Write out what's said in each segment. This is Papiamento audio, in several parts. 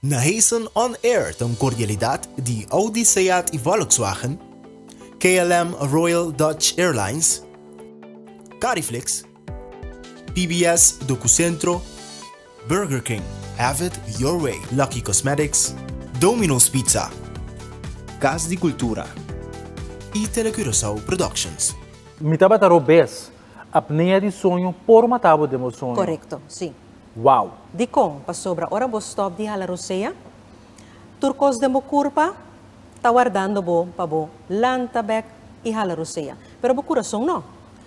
Na Heessen On Air ta un kordialidat di Audi Seat i Volkswagen, KLM Royal Dutch Airlines, Cariflix, PBS Docucentro, Burger King, Have It Your Way, Lucky Cosmetics, Domino's Pizza, Cas di Cultura y Telecurasao Productions. Mi tabata robes. Apnea di soño por mata bo den bo soño. Correcto, si. Wow. Dicon? Pasobra ora bo stop di hala rosea, tur cos den bo curpa ta wardando bo pa bo lanta bek y hala rosea. Pero bo curason no.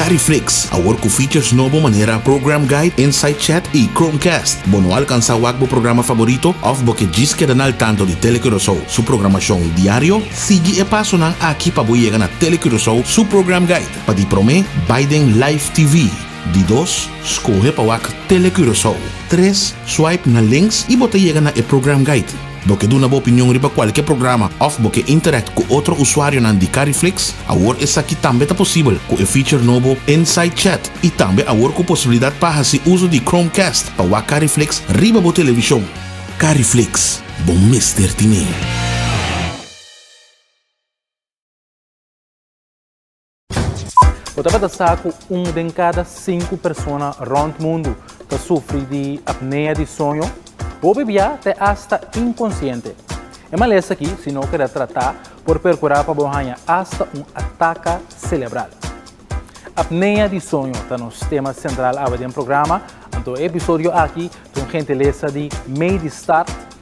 Cariflix, awor cu features nobo manera Program Guide, Insight Chat y Chromecast. Bo no alcansa wak bo programa favorito of bo ke djis keda na al tanto di Tele Curacao su programacion diario? Sigui e pasonan aki pa bo yega na Tele Curacao su Program Guide. Pa di prome, bai den Live TV. Di dos, scoge pa wak Tele Curacao. Tres, swipe na links y bo ta yega na e Program Guide. Bo ke duna bo opinion riba kualke programa òf bo ke interact ku otro usuarionan di Cariflix? Awor esaki tambe ta posibel ku e feature nobo Inside Chat i tambe awor ku posibilidat pa hasi uso di Chromecast pa wak Cariflix riba bo televishon. Cariflix, bo mester tin e! Bo tabata sa ku un den kada sinku persona rònt mundu ta sufri di apnea di soño? Hopi bia ta e asta inkonsiente. E malesa aki, si no keda tratá, por perkurá pa bo haña asta un ataka selebral. Apnea di soño ta nos tema sentral awe den programa, anto e episodio aki ta un gentilesa di Medistart,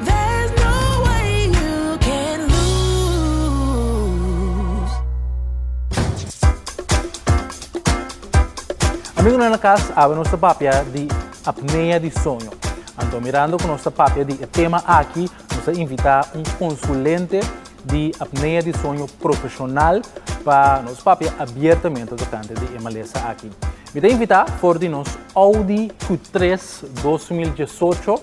There's no way you can lose. Amigonan na cas, awe nos ta papia di apnea di soño. Anto mirando cu nos ta papia di e tema aki, nos a invita un consulente di apnea di soño profesional pa nos papia abiertamente tocante di e malesa aki. Mi ta invita for di nos Audi Q3 dos mil diesocho.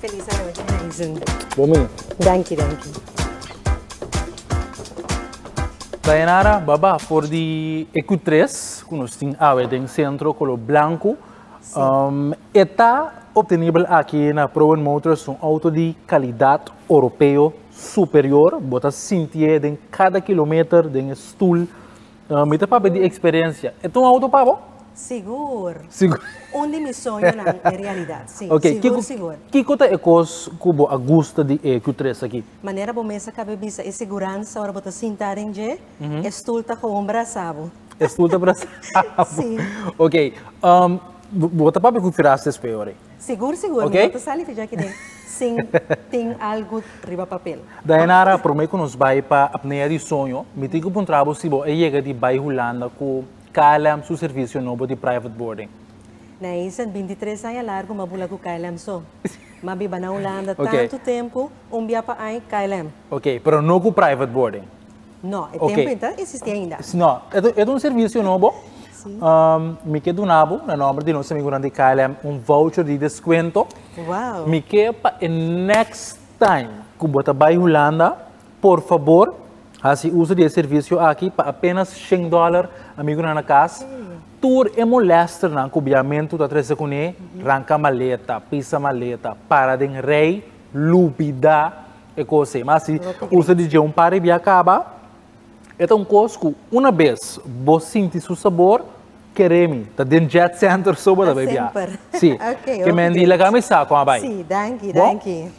Feliz a Roger na e zoon. Bon mi. Danki danki. Dayanara baba for di e kutres ku nos tin awe den sentro kolor blanku e ta optenibel aki na Prowen Motors un outo di kalidat oropeo superior bo ta sintié den kada kilometer den e stul No, mi ta papia di experiencia. E ta un auto pa bo? Sigur. Sigur. Un di mi soñonan e realidad, si. Ok, Sigur, kiko, sigur. kiko ta e kos ku bo a gusta di e Q3 aki? Manera bo mes a kaba e bisa, e siguransa ora bo ta sinta den dje, e stul ta gewoon brasa bo. E stul ta brasa bo. Si. Ok, bo ta papia ku Firaste Espeo rei. Sigur sigur, mi no ta sali fi djaki den sin tin algu riba papel. Dayanara, promé ku nos bai pa Apnea di Soño, mi tin ku puntra bo si bo a yega di bai Hulanda ku KLM su servisio nobo di private boarding. Na eisen bintitres aña largu mi a bula ku KLM so. Mi a biba na Hulanda tantu tempu, un bia pa ai, KLM. Oké, pero no ku private boarding. No, e tempo okay. enta existi ainda. No, e un servicio nobo. Sí. Um, mi ke duna bo, na nombre di nos amigunan di KLM, un voucher di descuento. Wow. Mi ke pa e next time ku bota bai Holanda, por favor, hasi uso di e servicio aki pa apenas 100 dollar, amigunan na kas. Tur e molester nan ku biamentu ta trese kune, ranka maleta, pisa maleta, para den rei, lubida, e cos ey. Ma si u sa DJ un par riba y a caba, e ta un cos cu una bes bo sinti su sabor, kere mi, ta den Jet Center so bo ta bay bia. Si, ke Mandy laga mi sa con a bay. Si, danki, danki.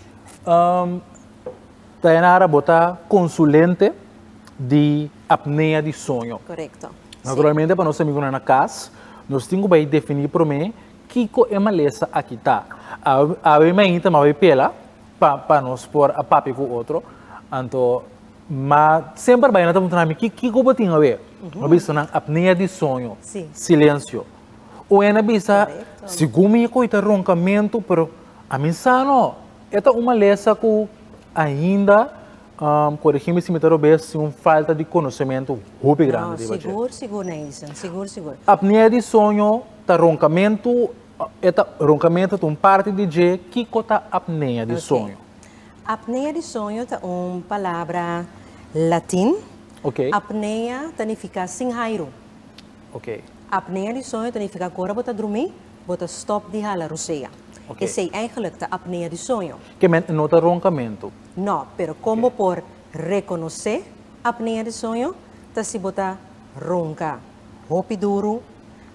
Dayanara, bo ta consulente di apnea di soño. Correcto. Naturalmente pa nos amigonan na cas, nos tin cu bay defini prome kico e malesa aki ta. Awe mainta mi a bay pela. pa pa nos por a papia ku otro anto ma semper bai nan ta puntra mi ki kiko bo tin awe a bisa nan apnea di soño silensio o e na bisa segun mi ko ita ronkamentu pero a mi sa no e ta un malesa ku ainda korigi mi si mi ta rob'e si un falta di konosementu hopi grandi riba dje. Sigur sigur Neissan sigur sigur. Apnea di soño ta ronkamentu E ta, ronkamentu ta un parti di dje. Kiko ta apnea di soño? Ok. Apnea di soño ta un palabra latin. Ok. Apnea ta nifiká sin hairu. Ok. Apnea di soño ta nifiká ku ora bo ta drumí, bo ta stòp di hala rusea. Ok. Esei èigelik ta apnea di soño. Ke mènt no ta ronkamentu. No, pero kon bo por rekonosé apnea di soño ta si bo ta ronka. Hopi duru,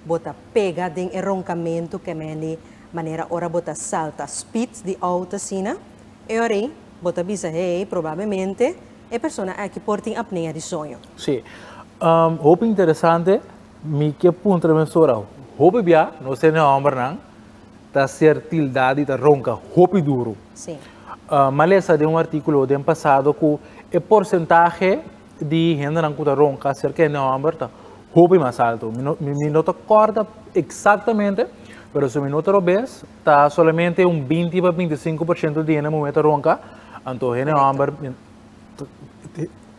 bo ta pega den e ronkamentu kemendi manera ora bo ta salta speed di out asina, e ora ei bo ta bisa hei probabemente e persona aki por tin apnea di soño. Sí. Um, hopi interesante, mi ke puntra mi mesor awo. Hopi bia, no ser ni hombernan, ta ser tildá di ta ronka hopi duru. Sí. Uh, malesa den un artíkulo den pasado ku e porsentahe di hendenan ku ta ronka aserka e nòmber ta hopi mas altu. Mi no, mi no ta kòrda eksaktamente, pero si mi no ta robes, ta solamente un binti pa binti sinku por ciento di hende muhé ta ronka, anto e nòmber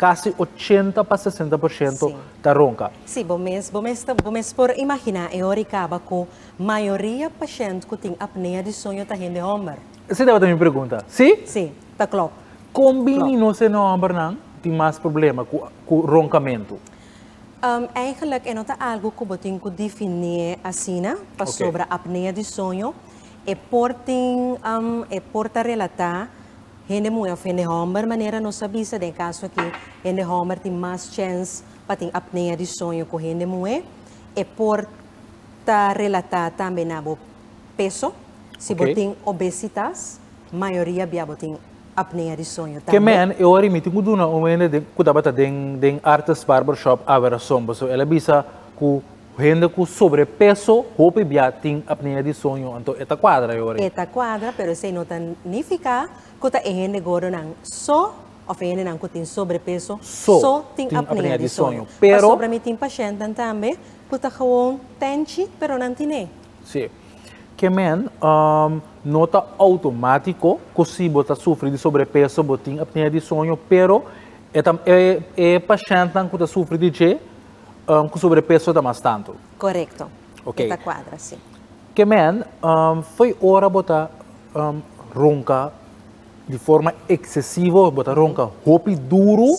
kasi ochenta pa sesenta por ciento ta ronka. Sí, bo mes, bo mes ta, bo mes por imaginá e ora i kaba ku mayoria pashènt ku tin apnea di soño ta hende hòmber. Esei tabata mi pregunta, si? Si, ta klop. Kon bini nos e nòmbernan tin mas problema ku ronkamentu? Eigenlik e no ta algu ku bo tin ku difiní asina, pasobra apnea di soño e por tin, e por ta relatá hende muhé òf hende hòmber. Manera nos a bisa den e kaso aki, hende hòmber tin mas chèns pa tin apnea di soño ku hende muhé. E por ta relatá tambe na bo peso, si bo tin obesitas, mayoria bia bo tin apnea di soño tambe. Ke men e ora i mi tin ku duna un hende ku tabata den den Artes Barber Shop a Werrason pasobra el a bisa ku hende ku sobrepeso hopi bia tin apnea di soño anto e ta kuadra e ora ei. E ta kuadra pero esei no ta nifiká ku ta e hende gordonan so òf e hendenan ku tin sobrepeso so tin apnea di soño pasobra mi tin pashèntnan tambe ku ta gewoon tenchi pero nan tin'é. Sí. Ke men no ta outomatiko ku si bo ta sufri di sobrepeso bo tin apnea di soño, pero e ta e e pashèntnan ku ta sufri di dje ku sobrepeso ta mas tantu. Korekto. Ok. E ta kuadra, si. Ke men foi ora bo ta ronka di forma eksesivo, bo ta ronka hopi duru,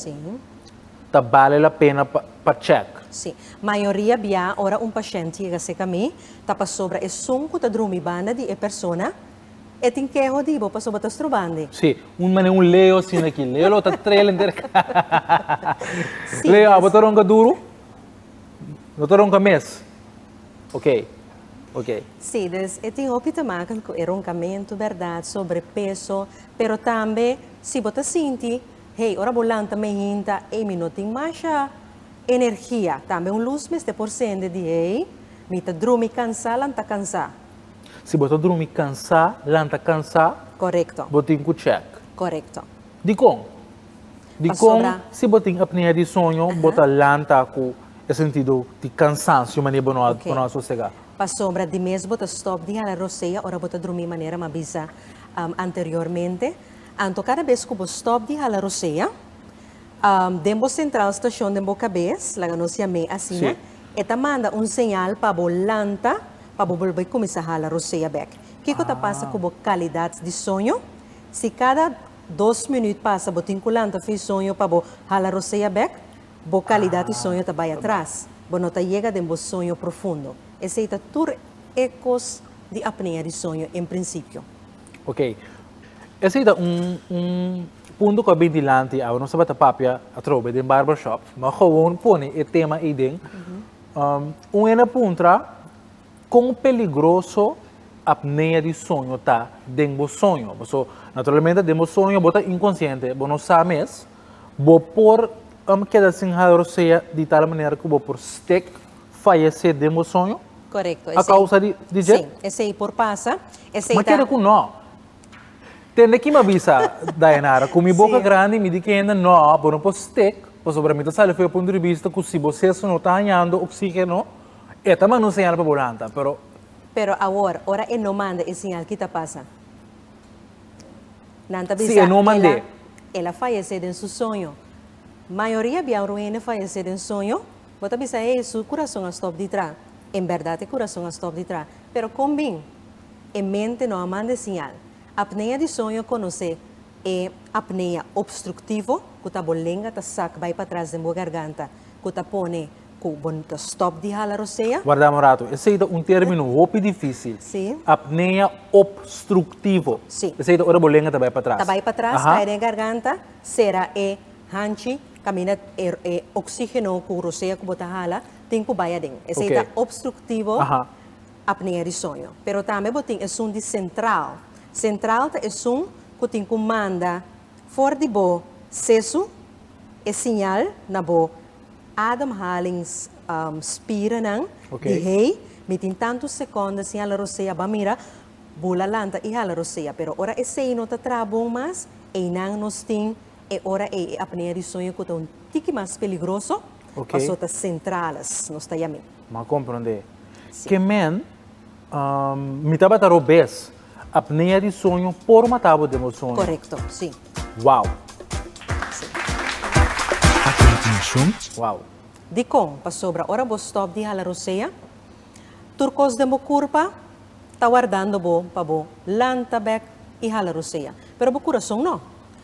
ta bale la pena pa chèk? Sí. Mayoria bia ora un pashènt yega seka mi, ta pasobra e sun ku ta drumi banda di e persona e tin keho di bo pasobra ta strobandi. Sí. Un manera un Leo asina aki. Leo lo ta trel henter kas. Leo, abo ta ronka duru? No ta ronka mes? Ok. Ok. Sí. Dus e tin hopi ta maka ku e ronkamentu, bèrdat, sobrepeso, pero tambe si bo ta sinti Hey, ora bo lanta me hinta ey mi no tin masha energia, tambe un luz mester por sende di hey mi ta drumi cansa lanta cansa. Si bo ta drumi cansa lanta cansa, Correcto. bo tin cu check. Correcto. Dicon? Dicon Pasobra. si bo tin apnea di soño Aha. bo ta lanta cu e sentido di cansancio mane bo no a bo no a sosega? Ok. Pasobra di mes bo ta stop di hala rosea ora bo ta drumi manera mi a bisa anteriormente. Anto kada bes ku bo stòp di hala rosea, den bo sentral stashon den bo kabes, laga nos yam'é asina, e ta manda un señal pa bo lanta pa bo bolbe kuminsá hala rosea bèk. Kiko ta pasa ku bo kalidat di soño? Si kada dos minüt pasa bo tin ku lanta fin soño pa bo hala rosea bèk, bo kalidat di soño ta bai atras. Bo no ta yega den bo soño profundo. Esei ta tur e kos di apnea di soño en prinsipio. Ok, esei ta un un punto cu a bin dilanti awe, nos tabata papia atrobe den barber shop, ma gewoon pone e tema ei den, un hende a puntra con peligroso apnea di soño ta den bo soño? Paso naturalmente den bo soño bo ta inconsciente, bo no sa mes, bo por keda sin haya osea di tal manera cu bo por stick. fayesé den bo soño a kousa di dje? Sí, esei por pasa. Esei ta. Ma keda ku no. Tende ki mi a bisa, Dayanara, ku mi boka grandi mi di ki hende no, bo no por stik, pasobra mi ta sali fo'i pa un drivista ku si bo seso no ta hañando oksigeno, e ta manda un señal pa bo lanta, pero. Pero awor, ora e no manda e señal kit a pasa? Nan ta bisa el'a el'a fayesé den su soño. Mayoria biaru hende fayesé den soño. Bo ta bisa, Hei, su kurason a stòp di tra. En bèrdat e kurason a stòp di tra. Pero kon bin? E mente no a manda e siñal. Apnea di soño konosé e apnea opstruktivo ku ta bo lenga ta sak bai patras den bo garganta ku ta pone ku bo ta stòp di hala rosea. Warda un ratu. Esei ta un término hopi difísil. Sí. Apnea opstruktivo. Sí. Esei ta ora bo lenga ta bai patras. Ta bai patras, kai den e garganta, sera e Hanchi, camina e e oxigeno cu rosea cu bo ta hala tin cu bay aden. Esey okay. ta obstructivo apnea di soño. Pero tambe bo tin esun di central. Central ta esun cu tin cu manda for di bo sesu e signal na bo ademhalings um, spiranan okay. di hey, mi tin tanto seconda sin hala rosea, ba mira, bula lanta y hala rosea. Pero ora esey no ta traha bon mas, eynan nos tin E ora ei e apnea di sueño cu ta un tiki mas peligroso paso ta centrales, nos ta yam'e. M'a comprende. Ke men, Mi tabata robes. Apnea di sueño por mata bo den bo sueño. Correcto, si. Wow! A continuacion. Wow! Dicon? Pasobra ora bo stop di hala rosea, tur cos den bo curpa ta wardando bo pa bo lanta bek y hala rosea. Pero bo curason no.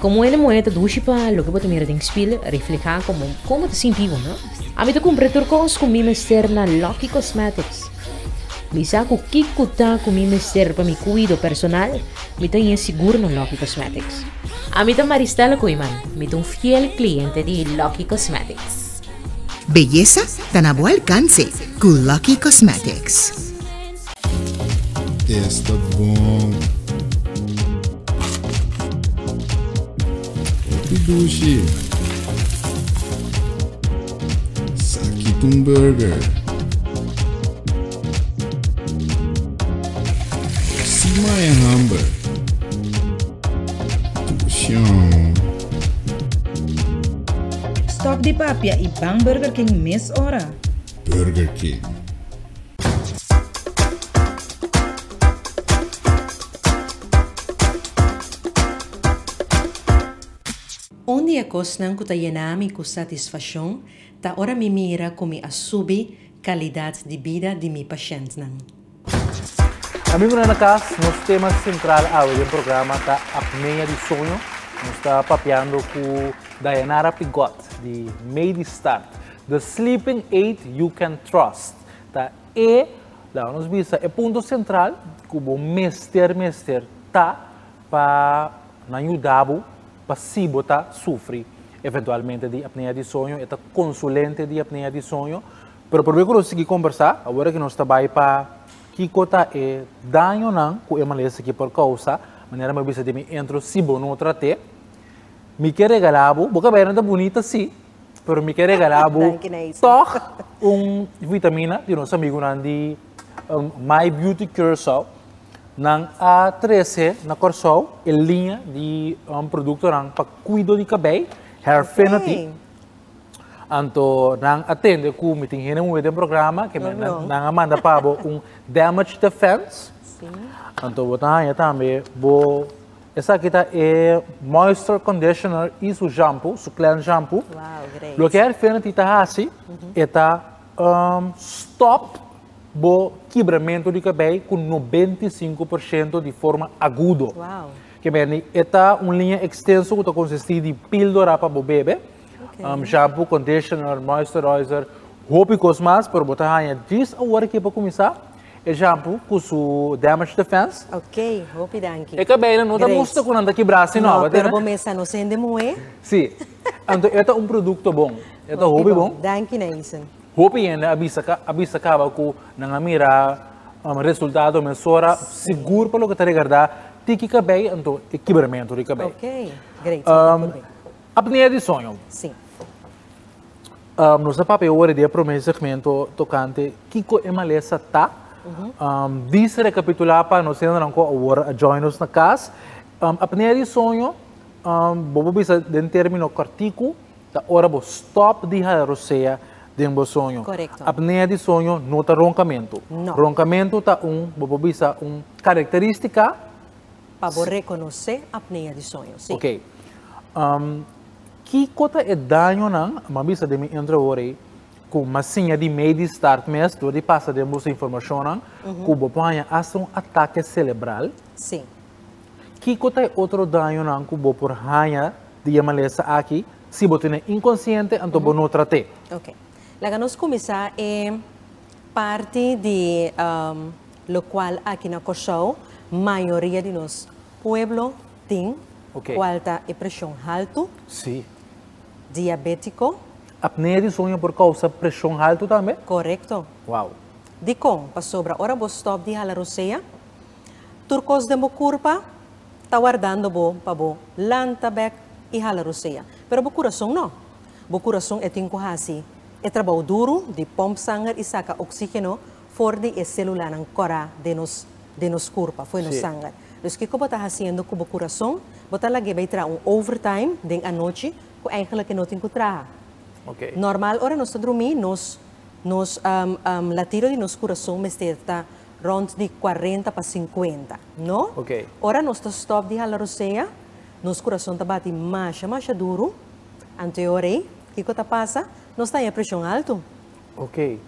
Komo e muhé ta dushi pa loke bo ta mira den spil reflehá komo kon bo ta sinti bo, no? Ami ta kumpra tur kos ku mi mester na Lucky Cosmetics. Mi sa ku kiko ta ku mi mester pa mi kuido personal, mi ta e sigur na Lucky Cosmetics. Ami ta Maristela Koeman, mi ta un fiel kliente di Lucky Cosmetics. Beyesa ta na bo alkanse ku Lucky Cosmetics. Esta bon. Hopi dushi. Saki tun burger. Sima e hamber. Tushon. Stop di papia y bang Burger King mes ora. Burger King. Un di e kosnan ku ta yena mi ku satisfashon ta ora mi mira ku mi a subi kalidat di bida di mi pashèntnan. Amigu nan na kas, nos tema sentral awe den programa ta apnea di soño. Nos ta papiando ku Dayanara Pigot di Medistart. The sleeping aid you can trust ta e, laga nos bisa, e punto sentral ku bo mester mester ta pa nan yuda bo pa si bo ta sufri eventualmente di apnea di soño. E ta konsulente di apnea di soño. Pero probe ku nos sigui kombersá awor ku nos ta bai pa kiko ta e dañonan ku e malesa aki por kousa. Manera mi a bisa di mi entro si bo no trat'é mi ke regalá bo, bo ka bira ta bunita si. pero mi ke regala bo tog un vitamina di nos amigunan di My Beauty Curacao. Nan a trese na Corsou e liña di produktonan pa kuido di kabei, Hairfinity. Anto nan a tende ku mi tin hende muhe den programa, ke nan a manda pa bo un damage defense, anto bo ta haña tambe bo. Esaki ta e moisture conditioner y su shampoo, su cleanse shampoo. Wow, great. Loke Hairfinity ta haci, e ta um stop bo kibramento di cabei cu noventa y cinco por ciento di forma agudo. Wow. Ke meni, e ta un linea extenso cu ta consisti di pildora pa bo bebe, um shampoo, conditioner, moisturizer, hopi cos mas, pero bo ta haya dries awor a kipa cuminsa. E shampoo cu su damage defense. Ok, hopi danki. E cabello no ta musta cu nan ta kibra asina. No, pero bo mester a nos hende moe. Si. Anto e ta un producto bon. E ta hopi bon. Danki Neison. Hopi hende a bisa ca, a bisa caba cu nan a mira resultado mesora sigur pa loke ta regarda tiki cabei anto e kibramento di cabei. Ok, great. Apnea di soño. Si. Um, nos a papia ora di e primer segmento tocante kiko e malesa ta. Um, dis recapitula pa nos sendernan ko awor a join nos na kas. Um, apnea di soño, um, bobo bisa den termino cortico, ta ora bo stop di hada rosea den bo soño. Correcto. Apnea di soño no ta roncamento. No. Roncamento ta un, bobo bisa, un característica. Pa bo reconoce apnea di soño, sí. Ok. Um, Kiko ta e dañonan? Bo a bisa den mi intro awor ei ku mas siña di mei di start mes dor di pasa den boso informashonnan ku bo por haña hasta un atake selebral. Kiko ta e otro dañonan ku bo por haña di e malesa aki? Si bo tene inkonsiente anto bo no trat'e. Oke. Laga nos kuminsá e parti di lokual aki na Kòrsou mayoria di nos pueblo, Tin, cual ta e presion haltu? Si. Diabetico? Apnea di soño por causa presion haltu tambe? Corecto. Wow. Dicon? Pasobra ora bo stop di hala rosea, tur cos den bo curpa ta wardando bo pa bo lanta bek y hala rosea. Pero bo curason no. Bo curason e tin cu haci e trabao duru di pump sanger y saca oxigeno for di e celulanan cora den nos curpa, fo'i nos sanger. Dus kiko bo ta hasiendo ku bo kurason? Bo ta lag'é bai traha un overtime den anochi ku eigenlijk e no tin ku traha. Normal ora nos ta drumí nos nos latido di nos kurason mester ta rond di kuarenta pa sinkuenta, no? Ora nos ta stòp di hala rosea nos kurason ta bati masha masha duru, anto e ora ei kiko ta pasa? Nos ta haña preshon altu, Ok.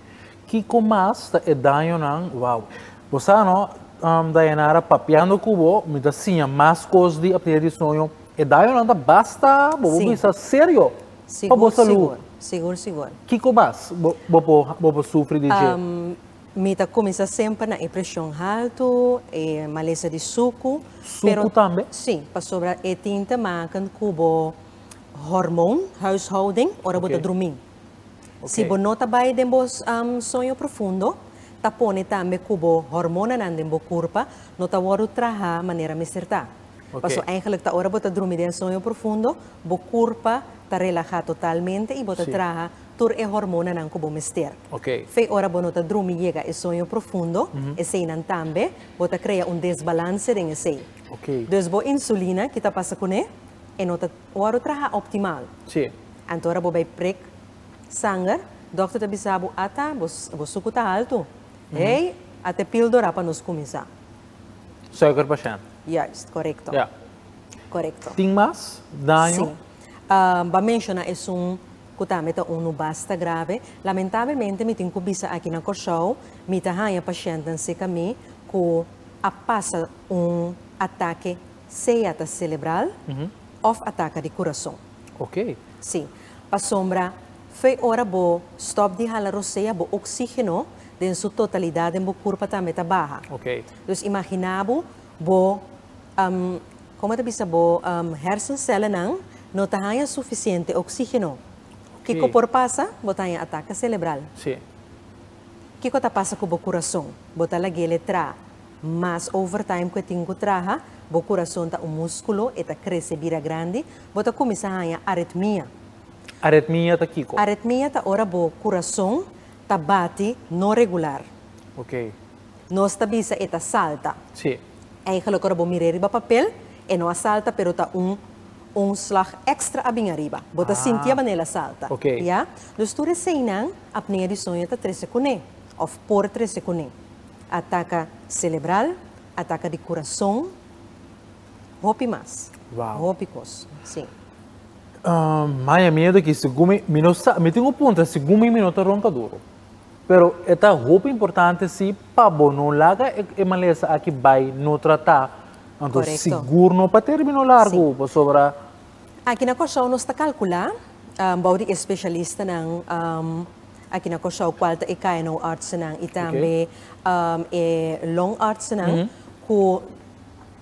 Kiko mas ta e dañonan? Wow. Bo sa no, um, Dayanara, papiando ku bo, mi ta siña mas kos di apnida di soño. E dañonan ta basta, bo bo bisa serio pa bo salú. Sigur, sigur, sigur. Kiko mas bo bo bo bo bo sufri di dje? Um, mi ta kuminsá semper na e preshon haltu, e malesa di suku. Suku tambe? Sí, pasobra e tin ta makan ku bo hormon, huishouding, ora bo ta drumí. Si bo no ta bai den bo soño profundo, ta pone tambe cu bo hormonanan den bo curpa no ta wordo traha manera mester ta. Paso eigenlijk ta ora bo ta drumi den soño profundo, bo curpa ta relaha totalmente y bo ta traha tur e hormonanan cu bo mester. Fe ora bo no ta drumi yega e soño profundo, eseinan tambe bo ta crea un desbalance den esei. Dus bo insulina, ki ta pasa cune? E no ta Ora traha optimal. Sí. Anto ora bo bai prik sanger, dokter ta bisa bo ata bo suku ta altu. Hey, a te pildora pa nos kuminsá. Suiker pashènt. Juist, korekto. Ja. Korekto. Tin mas daño? Sí. Bo a menshoná esun ku tambe ta unu basta grave. Lamentabelmente mi tin ku bisa aki na Kòrsou, mi ta haña pashèntnan sirka mi ku a pasa un atake. Sea ta celebral of a taca di curason. Si, pasobra fe ora bo stop di hala rosea bo oxigeno den su totalidad den bo curpa tambe ta baha. Dus imagina bo bo, como ta bisa, bo hersencelanan no ta haya suficiente oxigeno. Kico por pasa? Bo ta haya ataca celebral. Kico ta pasa cu bo curason? Bo ta laguele traha. Mas overtime ku e tin ku traha, bo kurason ta un múskulo, e ta krese bira grandi, bo ta kuminsá haña aretmia. Aretmia ta kiko? Aretmia ta ora bo kurason ta bati no regular. Ok. Nos ta bisa e ta salta. Sí. Eigenlijk ora bo mira e riba papel, e no a salta pero ta un un slag extra a bin ariba. Bo ta sinti a banela salta. Ah. Ok. Ya. Dus tur eseinan apnea di soño ta trese kuné òf por trese kuné. A taka celebral, a taka di curason, hopi mas, hopi cos, si. Maya, mi a taki segun mi, mi no sa, mi tin un puntra, segun mi, mi no ta ronca duro, pero e ta hopi importante si pa bo no laga e malesa aki bay no trata, anto sigur no pa terbino largo, pasobra Aki na Kòrsou nos ta kalkulá, bou di e spesialistanan aki na Kòrsou kual ta e KNO-artsennan i tambe e longartsennan ku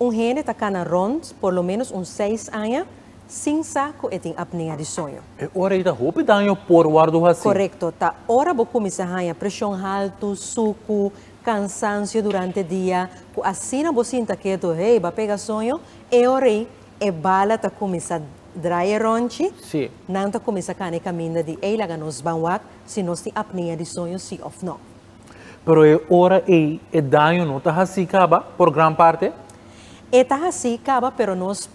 un hende ta kana rònt por lo ménos un seis aña sin sa ku e tin apnea di soño. E ora ei ta hopi daño por wòrdu hasí. Korekto. Ta ora bo kuminsá haña preshon haltu, suku, kansansio durante dia, ku asina bo sinta ketu, hei, bo a pega soño, e ora ei E bala ta kuminsá drai e rònchi. Sí. Nan ta kuminsá kana e kaminda di ei laga nos ban wak si nos tin apnea di soño sí òf nò. Pero e ora ei e daño no ta hasí kaba por gran parte? E ta hasí kaba pero nos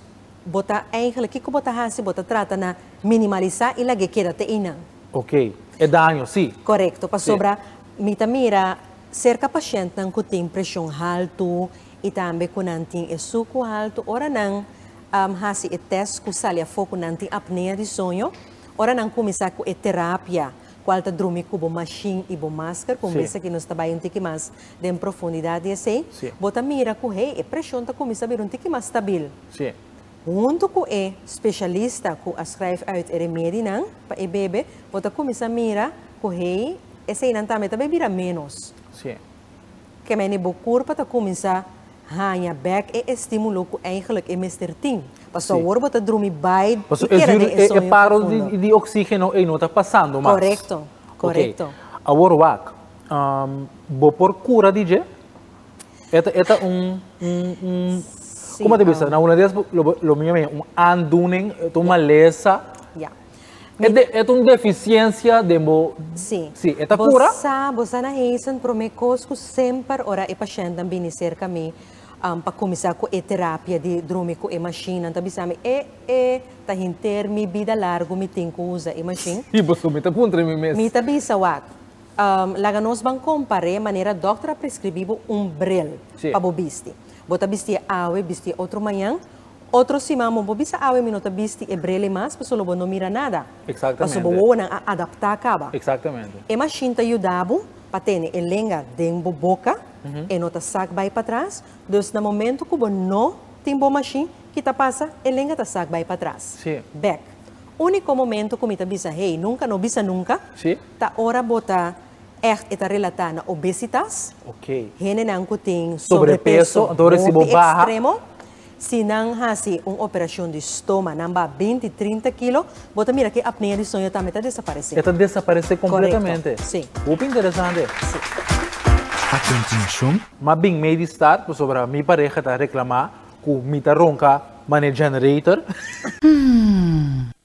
bo ta eigentlik kiko bo ta hasi bo ta trata na minimalisá i lag'é keda te einan. Okey. E daño sí. Korekto. Pasobra mi ta mira serka pashentnan ku tin preshon haltu y tambe cu nan tin e sucu alto ora nan a haci e test cu sali afo cu nan tin apnea di soño, ora nan cuminsa cu e terapia cual ta drumi cu bo machine y bo masker, cu un bes aki nos ta bay un tiki mas den profundidad di esey, bo ta mira cu hey, e presion ta cuminsa bira un tiki mas stabil. Hunto cu e specialista cu a schrijf uit e remedinan pa e bebe, bo ta cuminsa mira cu hey, eseynan tambe ta bay bira menos. Ke mene bo kurpa ta kuminsá haña bèk e estímulo ku eingelik e mester tin. Pasobra Sí. awor bo ta drumi bai i Pasobra e keda den e sueño profundo. ziel di oksígeno ei no ta pasando mas. Korekto, korekto. Oké, awor wak. Bo por kura di dje? E ta e ta un un un Sí, kòm bo ta bisa? Na una di es lo lo mira mi un aandoening, ta un malesa. Ya. E de, e un deficiencia den bo. Sí. Sí, e ta cura? Bo sa, bo sa na Heesen, prome cos cu semper ora e pacientenan bini cerca mi, um, pa cuminsa cu e terapia di drumi cu e machine, nan ta bisa mi, e, e, ta henter mi bida largu mi tin cu usa e machine? Sí, pasobra mi ta puntra mi mes. Mi ta bisa, wak, um, laga nos ban compare manera dokter a prescribi bo un bril sí. pa bo bisti. Bo ta bisti awe, bisti otro mañan, Otro siman bo bo bisa awe mi no ta bisti e brele mas paso lo bo no mira nada, paso bo wowonan a adaptá caba. E machine ta yuda bo pa tene e lenga den bo boca, e no ta sac bay patras, dus na momento cu bo no tin bo machine, ki ta pasa? E lenga ta sac bay patras, bek. Unico momento cu mi ta bisa hey, nunca no bisa nunca, ta ora bo ta echt e ta relatá na obesitas, hendenan cu tin sobrepeso hopi extremo. Si nan hasi un operashon di stoma, nan ba binti, trinta kilo, bo ta mira ke apnea di soño tambe ta desaparesé. E ta desaparesé kompletamente. Korekto, si. Hopi interesante. Si. A kontinuashon. Ma bin mei di stad pasobra mi pareha ta reklamá ku mi ta ronka manera generator.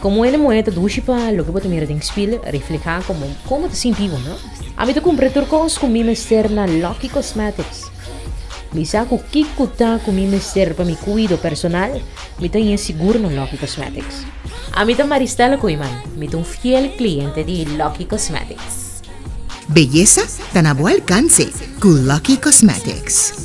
Komo hende muhé ta dushi pa loke bo ta mira den spil reflehá komo kon bo ta sinti bo, no? Ami ta kumpra tur kos ku mi mester na Lucky Cosmetics. Mi sa ku kiko ta ku mi mester pa mi kuido personal, mi ta yen sigur na Lucky Cosmetics. Ami ta Maristela Koeman, mi ta un fiel kliente di Lucky Cosmetics. Beyesa ta na bo alkanse ku Lucky Cosmetics.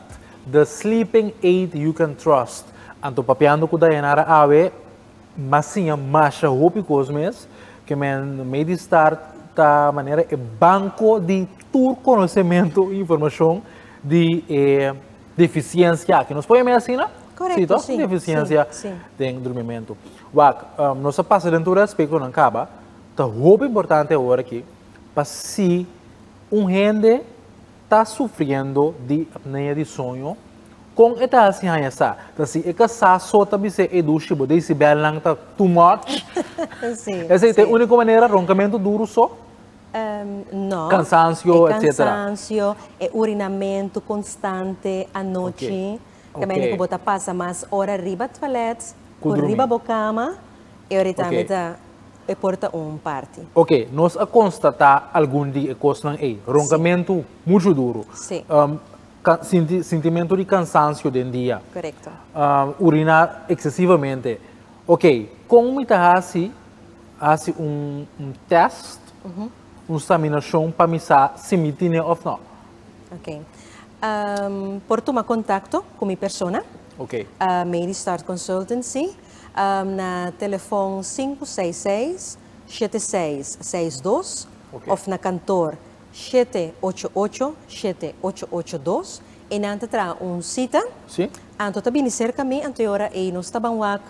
The sleeping aid you can trust. Anto papiando cu Dayanara awe m'a siña masha hopi cos mes, que men mei di start ta manera e banco di tur conocemento y informacion di e deficiencia aki. Nos por yama e asina? Si toh? Si, deficiencia den durmimento. Wak, nos a pasa den tur e aspectonan caba, ta hopi importante awor aki pa si un hende, ta sufriendo di apnea di soño, con e ta haci haya sa? Ta si e ka sa so ta bis'e e dushi bo decibel nan ta too much? Esey ta e unico manera, roncamento duro so? Ehm, no. Cansancio, etcetera. E cansancio, e urinamento constante anochi. Ta mende ku bo ta pasa mas ora riba toalet ku riba bo kama, e ora ei tambe ta e por ta un parti. Oke, nos a konstatá algun di e kosnan ei. Ronkamentu muchu duru. Sinti sintimentu di kansansio den dia. Uriná eksesivamente. Oke, kon mi ta hasi hasi un tèst, un saminashon pa mi sa si mi tine òf nò? Ok. Ehm, por tuma contacto cu mi persona, Ok. eh, Medistart Consultancy, ehm, na telefon 566-7662 Ok. of na kantoor 788-7882. Einan ta traha un cita. Sí. Anto ta bini cerca mi, anto e ora ei nos ta ban wak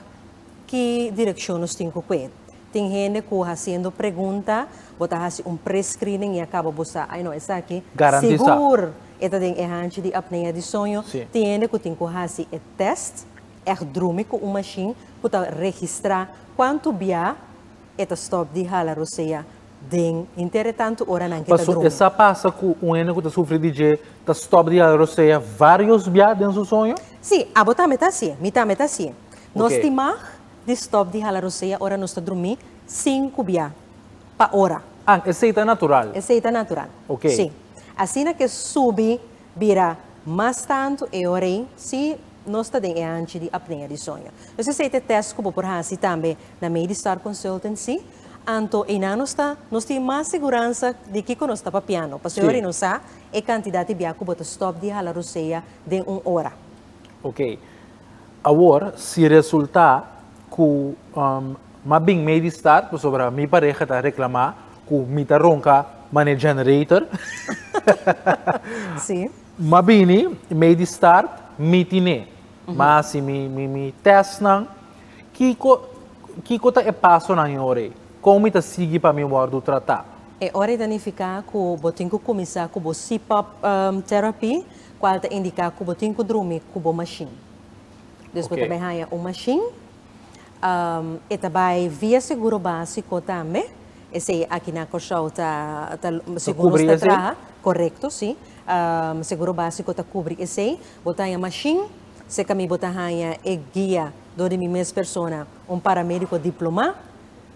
ki direccion nos tin cu cu e. Tin hende cu haciendo pregunta, bo ta haci un pre-screening y a caba bo sa, ay no, esaki sigur e ta den e hanchi di apnea di soño. Tin hende cu tin cu haci e test, echt drumi cu un machine cu ta registra cuanto bia e ta stop di hala rosea den hinter e tanto ora nan cu e ta drumi. Paso esa pasa cu un hende cu ta sufri di dje ta stop di hala rosea varios bia den su soño? Si, abo tambe ta haci e, mi tambe ta haci e. Nos ti mag. Di stop di hala rosea ora nos ta drumi sin kubiá pa ora. An, esei ta natural. Esei ta natural. Ok. Sí. Asina ke subi bira mas tantu e ora ei si nos ta den e anchi di apnea di soño. Entonces esei ta e test ku bo por hasi tambe na mei di Star Consultancy. Anto einan nos ta nos tin mas seguransa di kiko nos ta papiando. Pasobra e ora ei nos sa e kantidat di biá ku bo ta stop di hala rosea den un ora. Ok. Awor si resulta cu ma bin mee di start pasobra mi pareha ta reclama cu mi ta ronca mane generator. Si. Ma bini mee di start mi tine. Ma haci mi testnan. Kico kico ta e pasonan e ora ey? Con mi ta sigui pa mi wordo trata? E ora ey ta nifica cu bo tin cu cuminsa cu bo CPAP therapy. cual ta indica cu bo tin cu drumi cu bo machine. Dus bo ta bai haya un machine, e ta bai via seguro basico tambe, esey aki na Corsou ta segun nos ta traha, corecto si, seguro basico ta cubri esey, bo ta haya machine, seca mi bo ta haya e guia dor di mi mes persona, un paramedico diploma,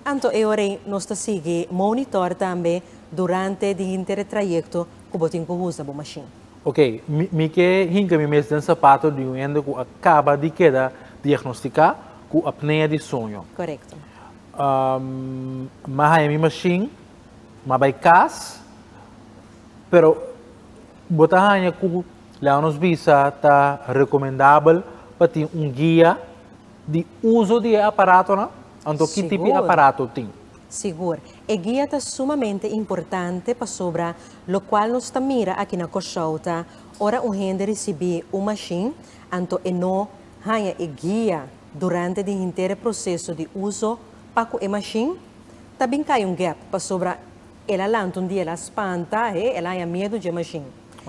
anto e ora ey nos ta sigui monitor tambe durante di hinter e trayecto cu bo tin cu usa bo machine. Ok, mi, mi ke hinka mi mes den sapato di un hende ku a kaba di keda diagnostiká ku apnea di sueño. Korekto. Am a haña mi mashin, m'a bai kas, pero bo ta haña ku, laga nos bisa, ta rekomendabel pa tin un guia? Di uso di e aparatonan? Anto ki tipo di aparato tin? Sigur. E guia ta sumamente importante pasobra lokual nos ta mira aki na Kòrsou ta ora un hende risibí un mashin, anto e no haña e guia durante di henter e proseso di uso pa ku e mashin. Ta bin kai un gèp pasobra el a lanta un dia el a spanta, he, el a haña miedu dje mashin.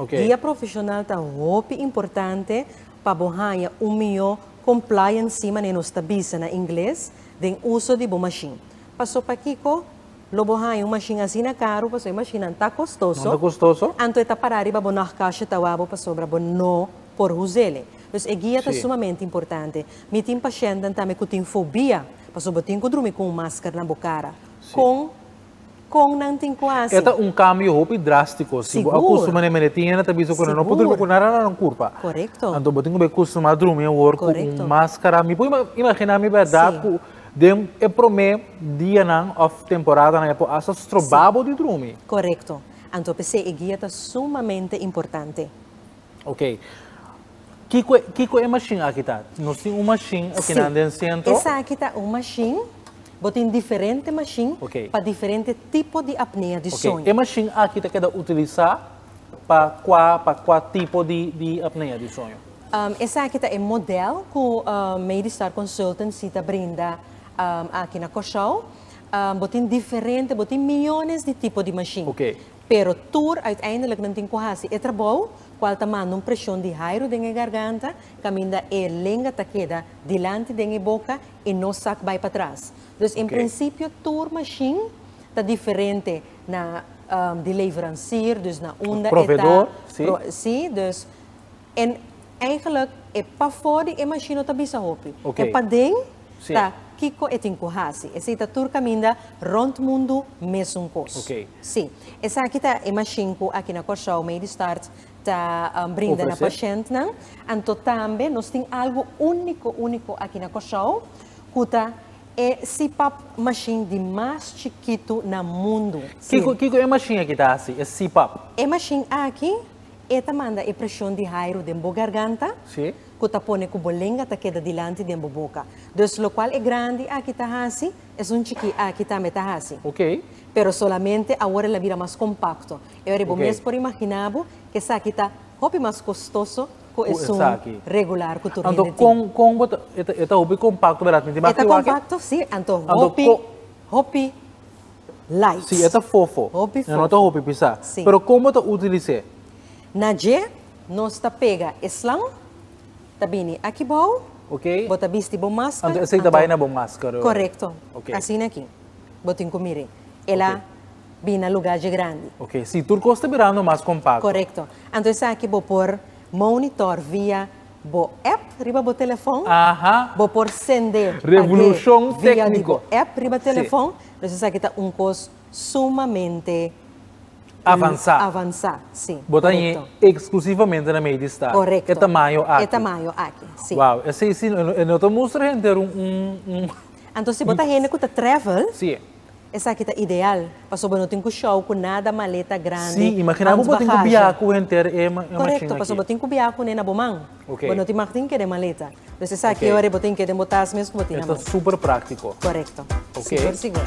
Guia profeshonal ta hopi importante pa bo haña un mihó Compliant sima ne nos ta bisa na ingles den uso di bo mashin. Paso pakico lo bo haña un mashin asina caro paso e mashinnan ta costoso, anto e ta para riba bo nog cashje ta wabo pasobra bo no por huzele. Dus e guia ta sumamente importante. Mi tin pashentnan tambe cu tin fobia paso bo tin cu drumi cu un masker na bo cara. Con. Kon nan tin ku hasi? E ta un kambio hopi drástiko. Si bo a kustumá na e mende tin e na ta bisa ku nan no por durmi ku nada na nan kurpa. Anto bo tin ku bai kustumá drumi awor ku un máskara. Mi por imaginá mi bèrdat ku den e promé dianan òf temporadanan e por asta strobá bo di drumi. Korekto. Anto p'esei e guia ta sumamente importante. Ok. Kiko e, kiko e mashin aki ta? Nos tin un mashin aki nan den sentro? Sí. Esaki ta un mashin. Bo tin diferente mashin okay. pa diferente tipo di apnea di soño. Okay. E mashin aki ta keda utilisá pa kua, pa kua tipo di, di apnea di soño? Um, esaki ta e model ku um, Medistar Consultancy ta brinda um, aki na Kòrsou. Um, bo tin diferente, bo tin milyones di tipo di mashin. Okay. Pero tur uiteindelijk nan tin ku hasi e trabou, kual ta manda un preshon di hairu den e garganta, kaminda e lenga ta keda dilanti den e boka i no sak bai patras. Dus en prinsipio tur mashin ta diferente na di leveransier, dus na unda e ta, si, dus. En eigenlijk e pafó di e mashino ta bisa hopi. Ok. E paden Sí. ta kiko e tin ku hasi. Esei ta tur kaminda rònt mundu mesun kos. Ok. Sí. Esaki ta e mashin ku aki na Kòrsou Medistart ta brinda na Ofresé. pashèntnan. Anto tambe nos tin algu úniko úniko aki na Kòrsou ku ta e CPAP mashin di mas chikitu na mundu. Kiko kiko e mashin aki ta hasi, e CPAP? E mashin aki. E ta manda e presion di hairu den bo garganta, ku ta pone ku bo lenga ta keda dilanti den bo boka. Dus lokual e grandi aki ta hasi, es un chikí aki tambe ta hasi. Pero solamente awor el a bira mas kompakto. E ora ei bo mes por imaginá bo ku esaki ta hopi mas kostoso ku esun regular ku tur hende tin. E ta hopi kompakto, beratinti. E ta kompakto, sí. Anto hopi, hopi Lights. Sí, e ta fofo. Hopi fofo. E no ta hopi pisá. Sí. Pero kon bo ta utilis'é? Na dje nos ta pega e slang, ta bini aki bou. Ok. Bo ta bisti bo masker. Anto esei ta bai na bo masker. Korekto. Ok. Asina aki bo tin ku mir'é. El a bini na lugá dje grandi. Ok, sí. Tur kos ta birando mas kompakto. Korekto. Anto esaki bo por monitor via bo app riba bo telefon. Bo por sende, pag'é, via di bo app riba telefon. Nos esaki ta un kos sumamente avansá. Sí, korekto. Korekto. E tamaño aki, sí. Anto si bo ta hende ku ta travel, Esaki ta ideal, pasobra no tin ku shou ku nada, maleta grandi, Si, imagina bo bo tin ku biaha ku henter e machin aki. Korekto, pasobra bo tin ku biaha kuné na bo man. Ok. Bo no tin machtin ke den maleta. Pues esaki e ora bo tin ke den bo tas mes ku bo tin na man. E ta super praktiko. Korekto. Ok. Sigur sigur.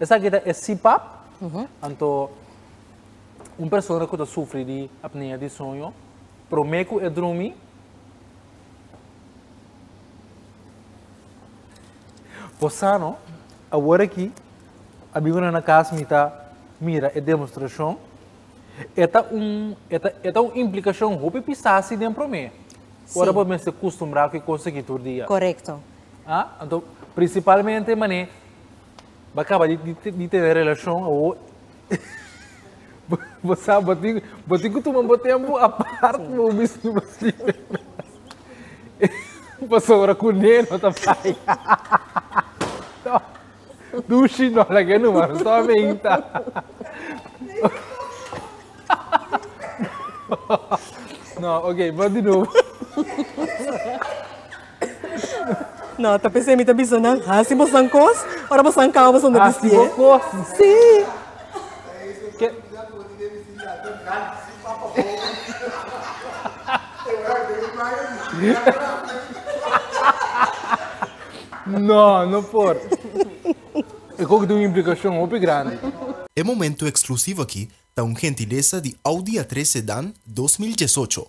Esaki ta e CPAP, anto un persona ku ta sufri di apnea di soño, promé ku e drumi, por sano. Awor aki a bin una na kas mi ta mira e demostrashon. E ta un, e ta un implikashon hopi pisasi den promé, ora bo mester kustumbrá ku e kos aki tur dia. Korekto. Ah? Anto, principalmente mané ba caba di, di, di tener relacion awo. bo sa, bo tin, bo tin tuma bo tempo apart bo mis nu basi. Pasora cu ne no ta fai. Dushi no la ke numa, so a menta. No, ok, bot di nubo. No, ta p'esei mi ta bisa nan, hasi bosan kos, ora bosan kaba bosan ta bistié. Hasi bo kos? Sí. Ke... No, no por. E koko tin un implikashon hopi grandi. E momento eksklusivo aki ta un gentilesa di Audi A tres Sedan dos mil diesocho.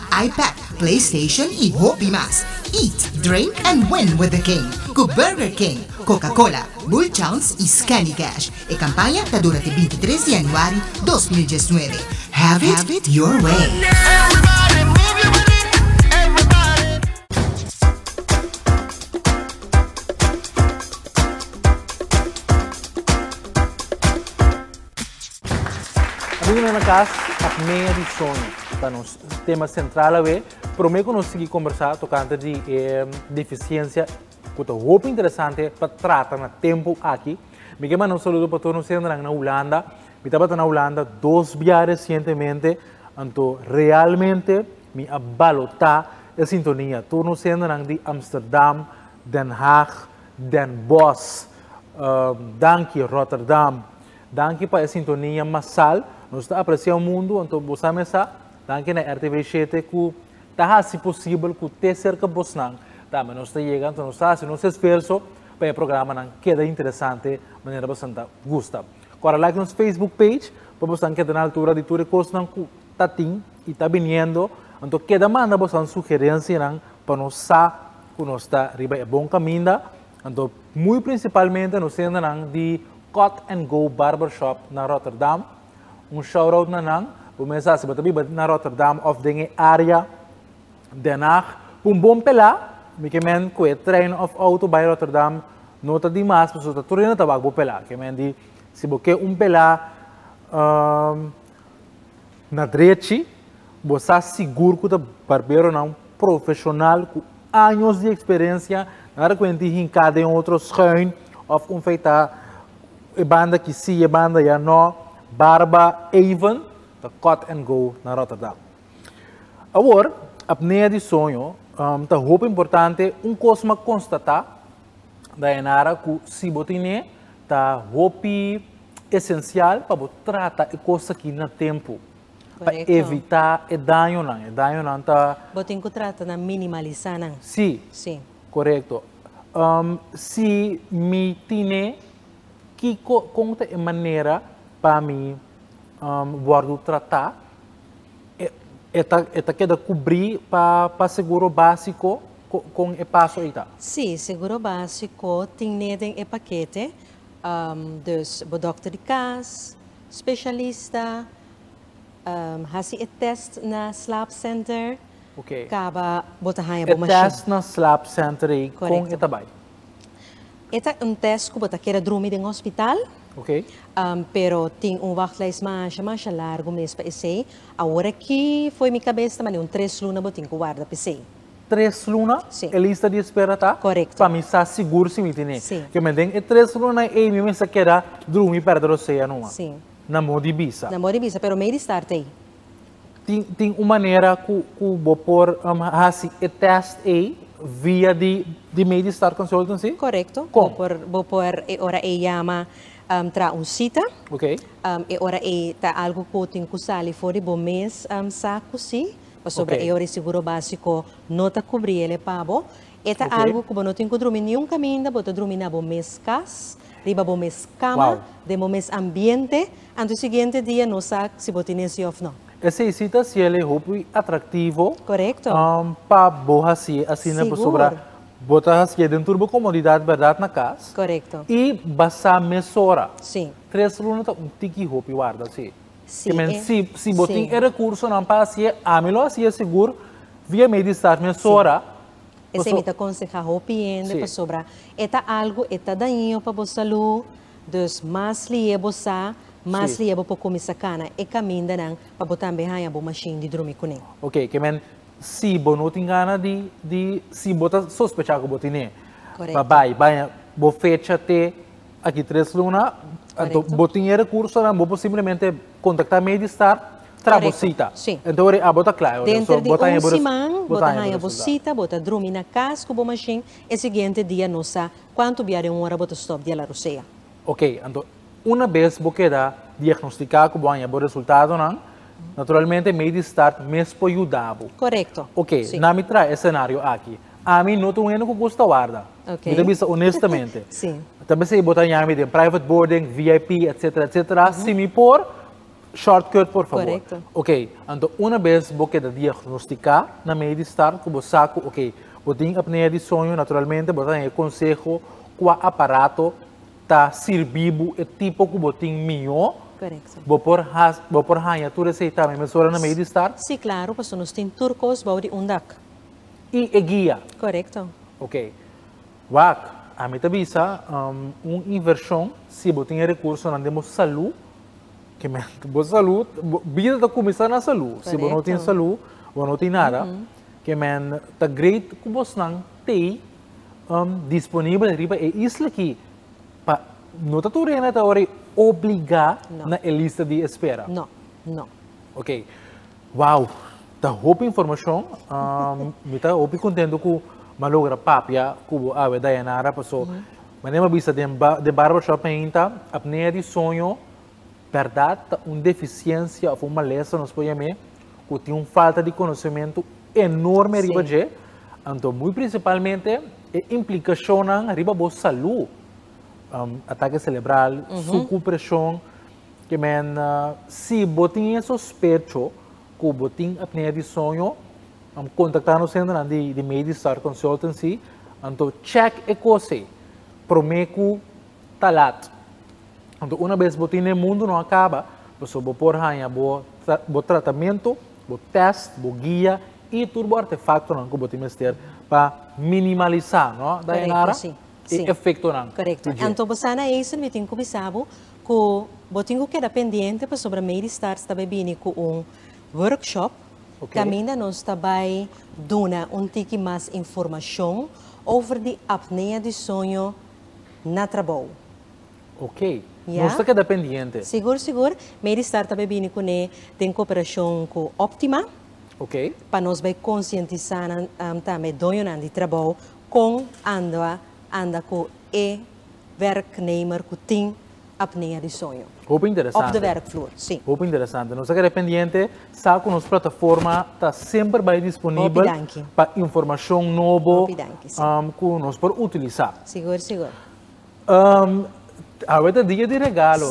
iPad, PlayStation y hopi mas. Eat, drink and win with the King cu Burger King, Coca Cola, Bullchowns y Scandy Cash. E campaña ta dura te binti tres di januari dos mil diesnuebe. Have it your way! Bienvenido na cas Acmé di Soño. Ta nos tema central awe. Prome cu nos sigui combersa tocante di e deficiencia cu ta hopi interesante pa trata na tempo aki. Mi ke manda un saludo pa tur nos sendenan na Hulanda. Mi tabata na Hulanda dos bia recientemente anto realmente mi a balota e sintonia. Tur nos sendenan di Amsterdam, Den Haag, Den Bos. Danki Rotterdam. Danki pa e sintonia masal. Nos ta aprecia un mundo anto bo sa mesa. Danki na RTVE shete cu ta haci posibel cu te cerca bosnan tambe nos ta yega. Anto nos ta haci nos esfuerzo pa e programanan keda interesante manera bosan ta gusta. Cora like nos Facebook page pa bosan keda na altura di tur e cosnan cu ta tin y ta biniendo. Anto keda manda bosan sugerencianan pa nos sa ku nos ta riba e bon kaminda, anto muy principalmente nos tendanan di Cut and Go Barber Shop na Rotterdam. Un shout out na nan, bo mesa si bo ta biba na Rotterdam of den e area Den Haag, pa un bon pela, mi ke men ku e trein of auto bai Rotterdam no ta di mas pasobra ta tur a yena tabak bo pela. Ke men di si bo ke un pela Na drechi, bo sa sigur ku ta barberonan profeshonal ku años di eksperensia, nada kuente e hinká den otro schuin òf un feitá e banda aki sí, e banda allá no. Barba Avon ta Cut and Go na Rotterdam. Awor, apnea di soño ta hopi importante un kos m'a konstatá, Dayanara cu si bo tin e ta hopi esencial pa bo trata e cos aki na tempo pa evita e dañonan, e dañonan ta. Bo tin cu trata na minimalisa nan. Si. Si. Correcto. Si mi tin e, kico, con ta e manera pa mi. um, wordu tratá, e, e, ta, e ta keda kubrí pa, pa seguro básiko, kon e paso ei ta? Sí, seguro básiko tin neden e pakete, um, dus bo dòkter di kas, spesialista, um, hasi e tèst na slaapsenter, okay. kaba bo ta haña bo mashin. E tèst na slaapsenter ei, kon e ta bai? E ta un test ku bo ta keda drumi den hospital. Okay. Um, pero tin un wachtlijst masha masha largo mes pa esei. Awor aki foi mi kabes ta mane un tres luna bo tin ku warda pa esei. Tres luna? Sí. E lista di espera ta? Correcto. Pa mi sa sigur si mi tene. Sí. Ke me den e tres luna ei mi mester keda drumi perda rosea numa. Sí. Na mo di bisa. Na mo di bisa, pero mei di start ei. Tin, tin un manera cu, cu bo por um, haci e test ei via di, di Medistar Consultancy? Correcto. Con? Bo por, bo por e ora ei yama um, traha un cita. Ok. Um, e ora ei ta algo cu tin cu sali for di bo mes um, sa cu si, pasobra Ok. e ora ei Seguro Basico no ta cubri el e pa bo. E ta Ok. algo cu bo no tin cu drumi niun caminda, bo ta drumi na bo mes cas, riba bo mes cama, Wow. den bo mes ambiente, Anto siguiente dia nos sa si bo tin esi of no. Esei si ta hasiel e hopi atractivo. Corecto. Pa bo hasi asina pasobra bo ta hasié den tur bo comodidad berdad na cas. Corecto. Y basa mesora. Si. Tres luna ta un tiki hopi warda si. Si. Kimen si si bo tin e recursonan pa hasié ami lo hasié sigur via mei di start mesora. Esei mi ta conseha hopi hende pasobra e ta algo e ta daño pa bo salud. Dus mas lié bo sa, mas lié bo por kuminsá kana e kamindanan pa bo tambe haña bo mashin di drumi kuné. Ok, ke men si bo no tin gana di, di, si bo ta sospechá ku bo tin'é, pa bai baña bo fecha te aki tres luna, anto bo tin e rekursonan, bo por simplemente kontaktá mi ei di stat, traha bo sita, anto ora ei abo ta kla, denter di un siman bo ta haña bo sita, bo ta drumi na kas ku bo mashin, e siguiente dia nos sa Cuanto bia den un ora bo ta stop di hala rosea? Ok, anto una bes bo keda diagnostica cu bo a haña bo resultadonan, naturalmente mei di start mes por yuda bo. Correcto. Ok, Si. na mi traha e scenario aki. Ami no ta un hende cu gusta warda. Ok. Mi ta bisa honestamente. Si. Ta besey bo ta haña mi den private boarding, VIP, etcetera, etcetera. Si mi por. Shortcut por favor. Correcto. Ok, anto una bes bo keda diagnostica na medio di start cu bo sa cu ok, bo tin apnea di soño, naturalmente bo ta den e conseho cua aparato ta sirbi bo e tipo cu bo tin mijo. Correcto. Bo por haci, bo por haya tur e seita mi mesora na medio di start? Si claro, pasobra nos tin tur cos bao di un dak. Y e guia? Correcto. Ok, wak, ami ta bisa un inversion si bo tin e recursonan den bo salud Ke mente bo salu, bida ta kuminsá na salu. Si bo no tin salu, bo no tin nada. Ke men ta great ku bosnan tei disponibel riba e isla aki pa no ta tur hende ta wòrdu obligá na e lista di espera. No, no. Oke. Wow! Ta hopi informashon. Mi ta hopi kontentu ku mi a logra papia ku bo awe Dayanara, paso manera mi a bisa den barbershop ainda, apnea di soño bèrdat ta un defisiensia òf un malesa, nos por yam'é, ku tin un falta di konosementu enorme riba dje. Anto muy prinsipalmente e implikashonnan riba bo salú, atake selebral, suku preshon. Ke men, Si bo tin e sospecho ku bo tin apnea di soño, kontaktá nos hendenan di Medistar Consultancy, anto chèk e kos ei promé ku ta lat. Anto una bes bo tin den mundu no a kaba, pasobra bo por haña bo tratamentu, bo tèst, bo guia i tur bo artefaktonan ku bo tin mester pa minimalisá, no Dayanara? e efektonan di dje. Anto bo sa na Eisel mi tin ku bisa bo. Cu bo tin cu keda pendiente pasobra Mady Stars ta bay bini cu un workshop caminda nos ta bay duna un tiki mas informacion over di apnea di soño na trabou. Ok. Nos ta keda pendiente. Sigur sigur. Mady Stars ta bay bini cu ne den cooperacion cu Optima Ok. pa nos bay concientisa nan tambe doñonan di trabou con anda anda cu e werknemer ku tin apnea di soño op de werkvloer. Hopi interesante. Nos ta kere pendiente sa ku nos plataforma ta semper bai disponibel pa informashon nobo ku nos por utilisa. Awe ta dia di regalo.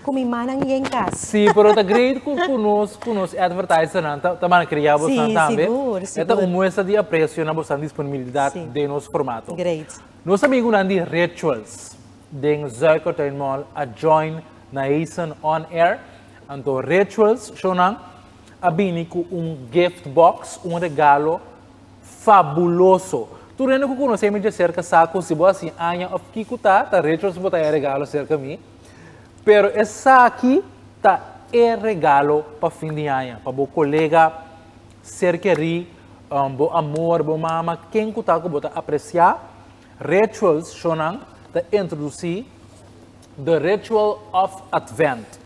Cu mi manan y en cas. Si, pero ta great cu cu nos cu nos advertisernan ta ta mana cria bosnan tambe. Si, sigur, sigur. E ta un muestra di aprecio na bosnan disponibilidad den nos formato. Great. Nos amigunan di Rituals den Zuikertuin Mall a join na Hazen On Air. Anto Rituals shownan a bini cu un gift box, un regalo fabuloso. Tur hende cu conoce mi dje cerca sa cu si bo a sin aña of kico ta, ta Rituals bo ta e regalo cerca mi. Pero esaki ta e regalo pa fin di aña, pa bo colega ser kerí, um, bo amor, bo mama, ken cu ta cu bo ta apreciá. Rituals Shonan ta introducí The Ritual of Advent.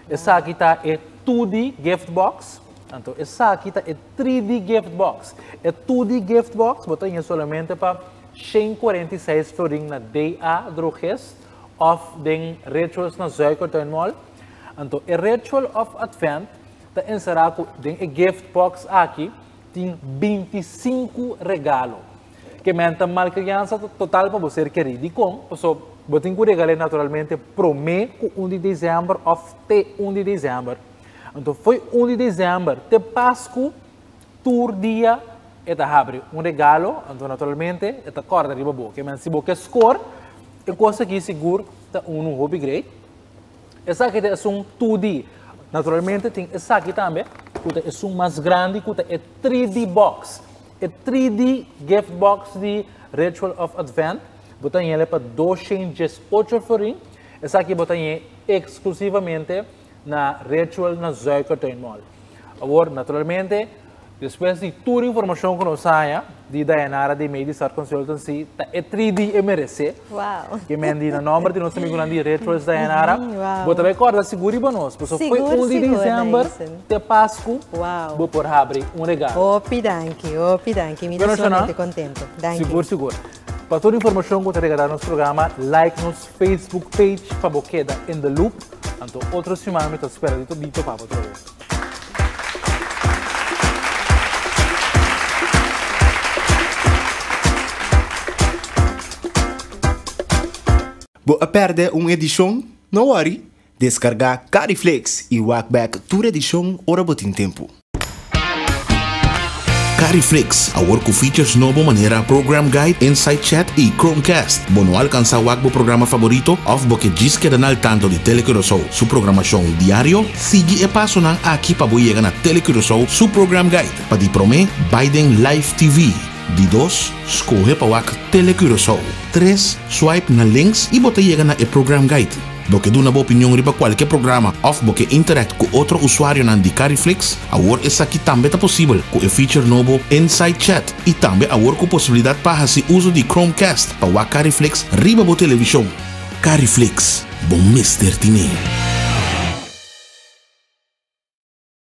Esaki ta e 2D gift box. Anto, esaki ta e 3D gift box. E 2D gift box bo ta yin solamente pa shen cuarenta i seis florin na DA Drogist. òf den Rituals na Zuikertuin Mall. Anto e Ritual of Advent ta enserá ku den e gift box aki tin bintisinku regalo. Ke men ta malkriansa total pa bo ser kerí. Dikon? Paso bo tin ku regal'é naturalmente promé ku un di Desember òf te un di Desember. Anto fo'i un di Desember te Pasku Tur dia e ta habri un regalo, anto naturalmente e ta kòrda riba bo. Ke men si bo ke skor e kos aki sigur ta unu hopi great. Esaki ta esun tudi. Naturalmente tin esaki tambe ku ta esun mas grandi ku ta e 3D box. E 3D gift box di Ritual of Advent bo ta yenle pa dos shen dies ocho forin. Esaki bo ta yen eksklusivamente na Ritual na Zuikertui Mall. Awor, naturalmente, despues di tur informashon ku nos haña di Dayanara di Mei di Star Consultancy, ta e 3 di e meresé. Wow. Ke men di na nòmber di nos amigunan di Rituals Dayanara. Wow. Bo ta bai kòrda sigur riba nos, pasobra fo Sigur, un di sigur, diciember Naisen. te Pasku, Wow. bo por habri un regalo. Hopi danki, hopi danki. Mi ta Bueno, Shona. solamente contento. Danki. Sigur, sigur. Pa tur informashon ku ta regará nos programa, like nos Facebook page pa bo keda in the loop. Anto otro siman mi ta spera di di topa bo troe. Bo a pèrdè un edishon? No wòri! Descarga Cariflex y wak back tur edicion ora bo tin tempo. Cariflex, awor cu features nobo manera Program Guide, Insight Chat y Chromecast. Bo no al cansa wak bo programa favorito of bo ke djis keda na al tanto di Tele Curacao su programacion diario? Sigui e pasonan aki pa bo yega na Tele Curacao su Program Guide. Pa di prome, bay den Live TV. Di dos, skohe pa wak Tele Curaçao. Tres, swipe na links i bo ta yega na e Program Guide. Bo ke duna bo opinion riba kualke programa òf bo ke interact ku otro usuarionan di Cariflix? Awor esaki tambe ta posibel ku e feature nobo Inside Chat i tambe awor ku posibilidat pa hasi uso di Chromecast pa wak Cariflix riba bo televishon. Cariflix, bo mester tin ei!